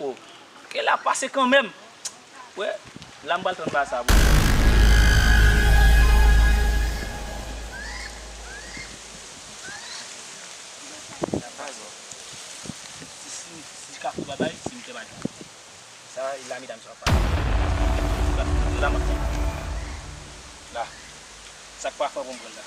Oh ke la pase kanmenm. Wè la m pral tann ba sa pou ou. Sa pa zo. Ti kafou babay se m te bay. Sa e la medam sa ap pase. La m ap tann. La. Sak pa fè pou m pran l la.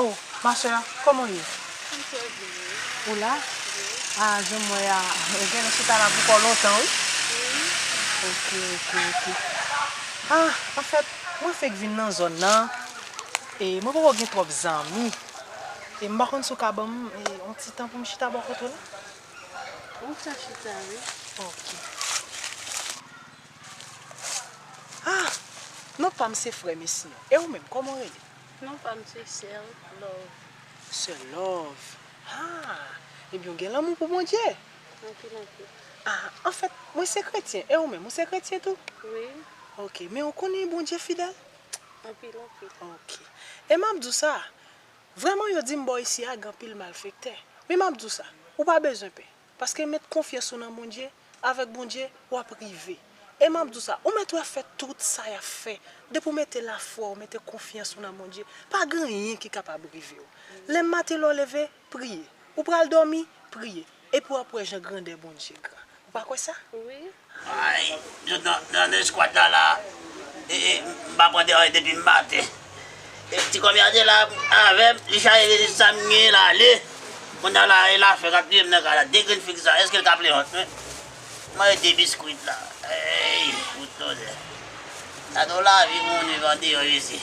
Oh ma soeur koman ou ye? M trè byen e ou? Ou la? Wi. Ah jan m wè a ou genlè chita la pou kò lontan wi. Wi. Ok ok ok ah anfèt mwen fèk vin nan zòn nan e mwen poko gen twòp zanmi e m pa konn si ou ka banm yon ti tan pou m chita bò kote w la? Ou ka chita wi. Ok. Ah! Non pam se frè Messi an. E ou menm kòman ou rele? Non pam se Sèl Love. Sèl Love. Ah! Ebyen ou gen lanmou pou Bondye. Anpil anpil. Ah! Anfèt, mwen se kretyen. E ou menm, ou se kretyen tou? Wi. Ok. Men ou konnen Bondye fidèl? Anpil anpil. Ok. E map di w sa, Vrèman yo dim bò isi a gan pil malfektè men map diw sa ou pa bezwen pè paske met konfyans ou nan Bondye avèk Bondye wap rive e map diw sa ou mèt wè fè tout sa yap fè depi ou mete lafwa ou mete konfyans ou nan Bondye pa gen anyen ki kapab rivew lè maten lè w leve priye ou pral dòmi priye Epi wap wè jan grandè Bondye gran. Ou pa kwè sa? Wi. Ay yo nan eskwad la la ee m pa pran deray depi m maten ee ti kòmè a te la avèm li chaje li di sam gen la ale kounya la e lafè kap touyem nan kay la de grenn figi sa eskel ka plèyòt menm m manje de biskwit la eeyy fout tonnerr gade yon lavi moun viv andeyò isit.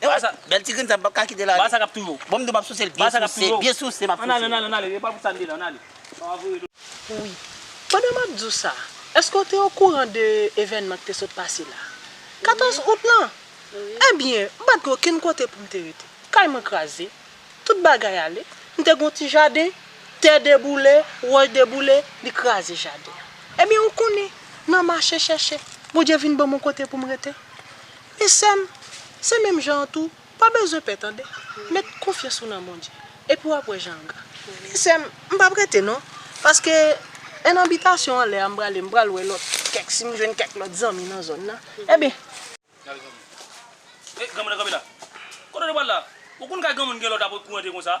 Ewa sa bèl ti grenn sa m pap ka kitel ale. Ba sa kap touyou. Bon m do map sousel byen souse byen souse map souse. Ann ale ann ale ann ale epa pou sa n te la ann ale. Sa wap voye do. Wi. Pandan map di w sa, eske w te okouran de evènman k te sot pase la? 14 out lan? Ebyen, m pat gen okenn kote pou m te rete. Kay mwen kraze. Tout bagay ale. M te gen yon ti jaden, tè deboule, wòch deboule, li kraze jaden an. Ebyen ou konnen, nan mache chèche, Bondye vin ban m yon kote pou m rete. Men sèm, se menm jan an tou, pa bezwen pè tande, met konfyans ou nan Bondye, epi wap wè jan ga. Men sèm, m pap rete non, paske 1 an bitasyon anlè a m prale m pral wè lòt kèk si m jwenn kèk lòt zanmi nan zòn nan, enben. Gade granmoun. Granmoun nan kanpe la. Kote w te pral la? Ou konn kay granmoun gen lòt apre kou rantre konsa?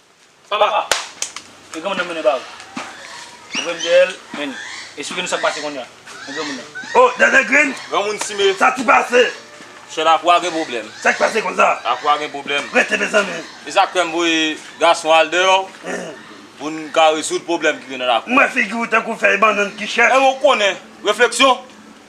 Papa! E granmoun nan mennen ba ou. Ou vle m dèyè l, men li. Esplike nou sa k pase kounya. Men granmoun nan. O! Dènè grenn! Granmoun simen. Sa ki pase? Chè Lakwa gen pwoblèm. Sa ki pase konsa? Lakwa gen pwoblèm. Rete mezanmi. E sa k fè m voye gason al deyò pou n ka rezoud pwoblèm ki gen nan Lakwa. M wè figi ou tankou fèy bannann ki chèch. Emen w konnen. Refleksyon!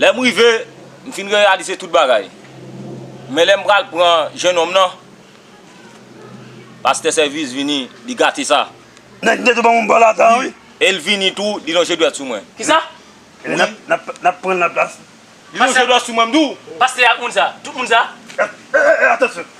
Lè m rive, m fin reyalize tout bagay. Men lè m pral pran jenòm nan, pastè Sèvis vini, li gate sa. Nèg mete banm yon bal ata wi. E l vini tou, li lonje dwèt sou mwen. Kisa? Wi. N ap pran l nan plas. Li lonje dwèt sou mwen m di w. Pastè ak moun sa, tout moun sa. E, e, e, atansyon.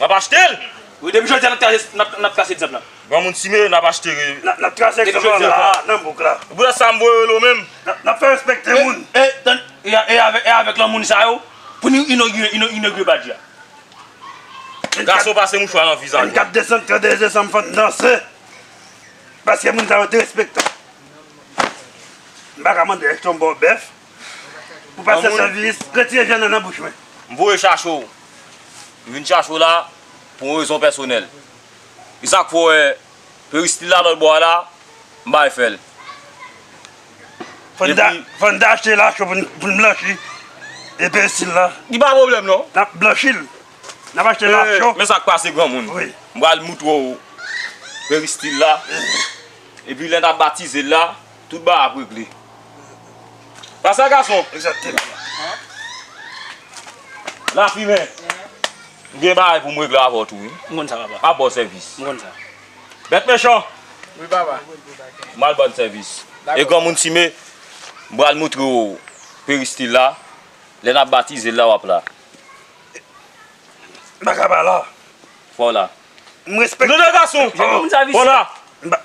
Nap achte l! Wi depi jodi a nap trase egzanp la. Granmoun Sime nap achte re. Nap trase egzanp la la nan bouk la. Bouda sa mwen yo lo menm. Nap fè respekte moun. E avèk lanmoun sa yo pou nou inogire badj la. Gason pase mouchwa nan vizaj mwen. 24 desanm 31 desanm fò n danse. Paske moun sa yo derespektan. M paka mande èske yon baw bèf. Ou pa se sanvinis, retire vyann nan nan bouch mwen. M voye chache w. M vin chache w la pou yon rezon pèsonèl. E sa k fè w wè peristil la lòt bò a la, m bay fè l. Fò n dache la cho pou n blanchi e peristil la. Li pa pwoblèm non. N ap blanchi l. N ap achte la cho. Men sa k pase granmoun. M pral moutre w peristil la. E pi lè n ap batize l la. Tout ba ap regle. Pa sa gason. Lafimen. M gen bagay pou m regle avè w tou wi. M konn sa papa. M ap ba w sèvis. M konn sa. Bèt mechan. Wi papa. M al ba n sèvis. Dakò. E granmoun Time, m pral moutre w peristil la. Lè n ap batize l la w ap la. M pa ka pa la. Fò w la. M respekte. Non non gason. Fò w la. M pa.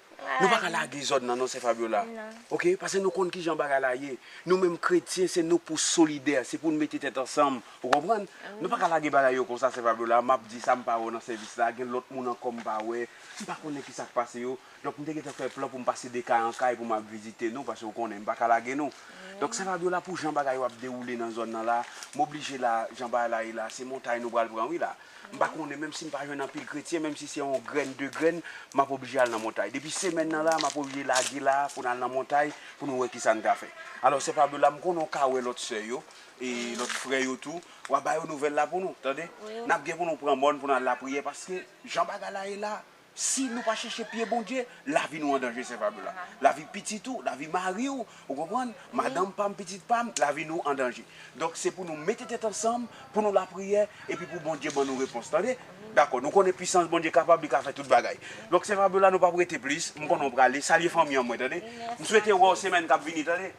Nou pa ka lage zòn nan non sè Fabiola ok pase nou konn kijan bagay la ye nou menm kretyen se nou pou solidè se pou nou mete tèt ansanm ou konprann nou pa ka lage bagay yo konsa sè Fabiola map di sa mpa wè nan sèvis la gen lòt moun ankò mpa wè mpa konnen kisa k pase yo donk mte gentan fè plan poum pase de kay an kay poum al vizite nou pase ou konnen mpa ka lage nou donk sè Fabiola pou jan bagay yo ap dewoule nan zòn nan la moblije la jan bagay la ye la se montay nou pral pran wi la. M pa konnen, menm si m pa jwenn anpil kretyen, menm si se yon grenn, de grenn, m ap oblije al nan montay. Depi semèn nan la, m ap oblije lage la a pou n al nan montay pou nou wè ki sa n ka fè. Alò, sè Fabiola, m konnen w ka wè lòt sè yo, e lòt frè yo tou, w a ba yo nouvèl la pou nou, tande. N ap gen pou nou pran mòn pou n al lapriyè, paske jan bagay la ye la a, Si nou pa chèche pye Bondye, lavi nou an danje sè Fabiola. Lavi pitit ou, lavi mari w, ou konprann, madanm pa m, pitit pa m, lavi nou an danje. Donk se pou nou mete tèt ansanm, pou nou lapriyè, epi pou Bondye ban nou repons. Tande? Dakò, nou konnen pisans Bondye kapab, li ka fè tout bagay. Donk sè Fabiola nou pa p rete plis, m konnen w prale, salye fanmi an mwen tande. M swete wè w semèn k ap vini tande.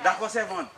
Dakò sèvant.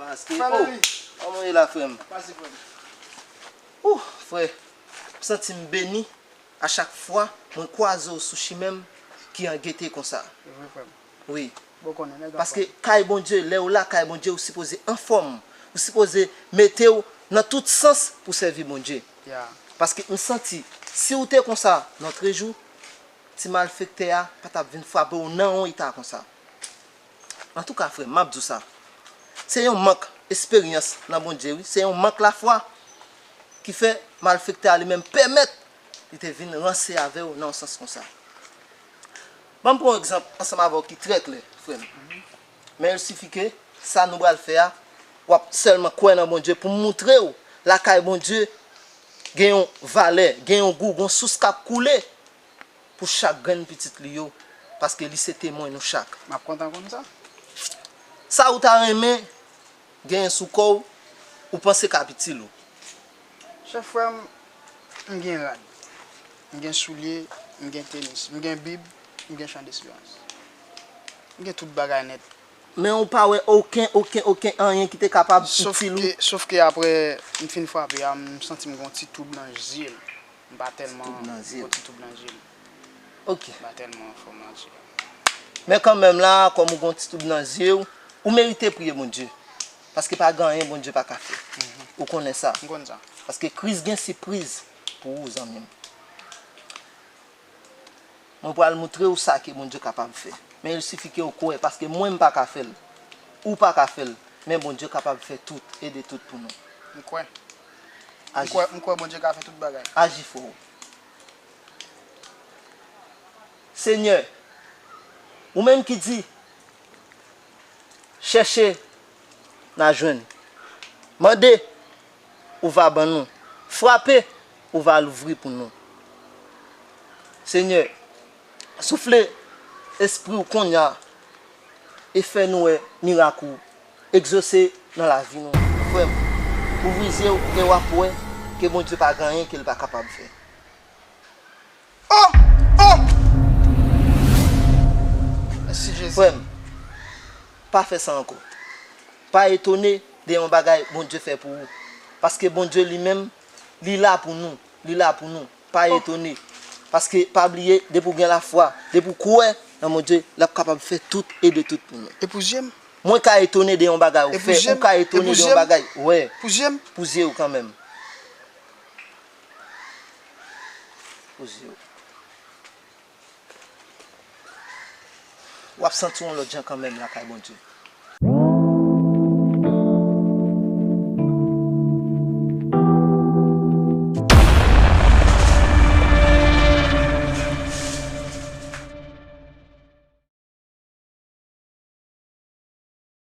Pase frèm. Ooh frè, m santi m beni a chak fwa mwen kwaze w sou chimen m ki an gete konsa. Se vre frèm. Wi. Bon konnen nèg anfòm. Paske kay Bondye, lè ou la kay Bondye ou sipoze anfòm. Ou sipoze mete w nan tout sans pou sèvi Bondye. Ya. Paske m santi si ou te konsa lotrejou, ti malfektè a pa t ap vin frape w nan yon eta konsa. Antouka frèm map diw sa se yon mank esperyans nan Bondye wi se yon mank lafwa ki fè malfektè a li menm pèmèt li te vin ranse avèw nan yon sans konsa banm pran yon egzanp ansanm avèw ki trè klè frèm men il sifi ke sa nou bal fè a wap sèlman kwè nan Bondye poum moutrew lakay Bondye gen yon valè gen yon gou gon sous kap koule pou chak grenn pitit li yo, paske li se temwen nou chak. M ap kontan konn sa. Sa ou ta renmen genyen sou kò ou, ou panse k ap itil ou? Chèf frè m, m gen rad, m gen soulye, m gen tenis, m gen bib, m gen chan desperans. M gen tout bagay nèt. Men ou pa wè oken, oken, oken anyen ki te kapab itil ou? Sofke, sofke aprè m fin frape a, m santi m gen yon ti twoub nan zye m. M pa tèlman gwo ti toub nan je m. Ok. M pa tèlman an fòm nan je. Men kanmenm la, kòm ou gwo ti toub nan je w, ou merite priye Bondye. Paske pa gen anyen Bondye pa ka fè. Ou konnen sa. M konn sa. Paske Kris gen sipriz pou ou zanmi m. Mwen pral moutre w sa ke Bondye kapab fè. Men il sifi ke w kwè. Paske mwen m pa ka fè l. Ou pa ka fè l. Men Bondye kapab fè tout e de tout pou nou. M kwè. M kwè Bondye ka fè tout bagay. Aji fò o Senyè, ou menm ki di, Chèche, n a jwenn. Mande, ou va ban nou. Frape, ou va louvri pou nou. Senyè, soufle Espri w konnya e fè nou wè mirak ou Exauce nan lavi nou frèm. Ouvri zyew e wap wè ke Bondye pa gen anyen kel pa kapab fè oh oh Mèsi Jezi. Frèm pa fè sa ankò pa etone de yon bagay Bondye fè pou ou paske Bondye li menm li la pou nou li la pou nou. Pa etone, paske pa bliye depi ou gen lafwa, depi ou kwè nan Bondye, l ap kapab fè tout e de tout pou nou. E pou zye m? Mwen ka etone de yon bagay ou fè, ou ka etone de yon bagay, wè, pou zye m? Pou zye ou kanmenm. Pou zye ou. Wap santi w yon lòt jan kanmenm lakay Bondye.